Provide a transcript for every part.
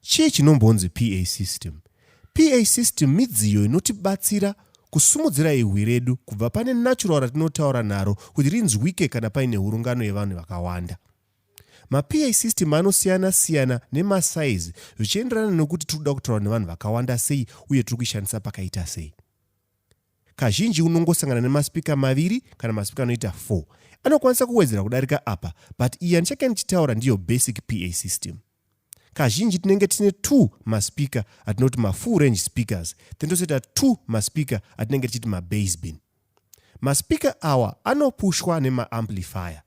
Chii chinombonzi PA system? PA system midziyo inotibatsira kusimudzira ihwi redu kubva pane natural ratinotaura naro kuti rinzwike kana paine hurungano yevanhu vakawanda. MaPA system anosiyana siyana nemasaizi zvichienderana nekuti tiri kuda kutaura nevanhu vakawanda sei uye tiri kuishandisa pakaita sei. Kazhinji unongosangana nemaspika maviri kana maspika anoita 4. Anokwanisa kuwedzera kudarika apa but iyi yandichake ndichitaura ndiyo basic PA system. Kazhinji tinenge tine 2 maspika atinoti mafull range speakers then tozoita 2 maspika atinenge tichiti mabasebin. Maspika awa anopushwa nemaamplifier.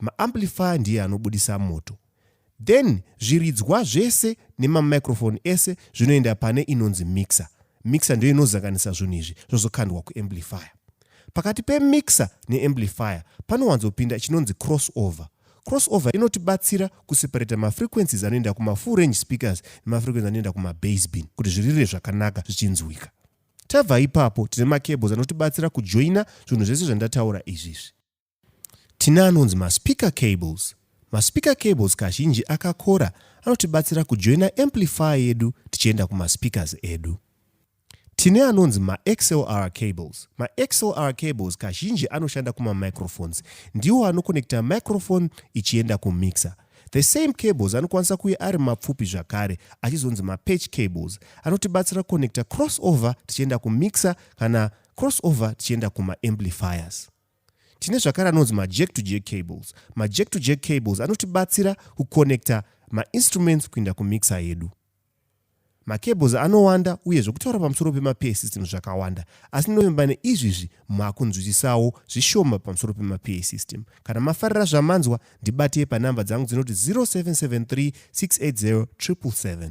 Maamplifier ndiye anobudisa moto. Then zviridzwa zvese nemamicrophone ese zvinoenda pane inonzi mixer. Mixer ndiyo inozanganisa zvinhu izvi zvozokandwa kuamplifier. Pakati pemixer neamplifier panowanzopinda chinonzi crossover. Crossover inotibatsira kuseparata mafrequencies anoenda kumafull range speakers nemafrequencies anoenda kumabase bin kuti zvirire zvakanaka zvichinzwika. Tabva ipapo tine macables anotibatsira kujoina zvinhu zvese zvandataura izvizvi. Tine anonzi maspeaker cables. Maspeaker cables kazhinji akakora anotibatsira kujoina amplifier yedu tichienda kumaspeakers edu. Tine anonzi maxlr cables. Maxlr cables kazhinji anoshanda kumamicrophones. Ndiwo anokonekta microphone ichienda kumixer. The same cables anokwanisa kuve ari mapfupi zvakare achizonzi mapatch cables anotibatsira kukonekta crossover tichienda kumixer kana crossover tichienda kumaamplifiers. tine zvakare anonzi majack to jack cables majack to jack cables anotibatsira kuconnecta mainstruments kuinda kumixer yedu macables anowanda uye zvekutaura pamusoro pemapeer system zvakawanda asi ndovimba neizvizvi makunzwisisawo zvishoma pamusoro pemapeer system kana mafarira zvamanzwa ndibatei panhamba dzangu dzinoti 0773 680 777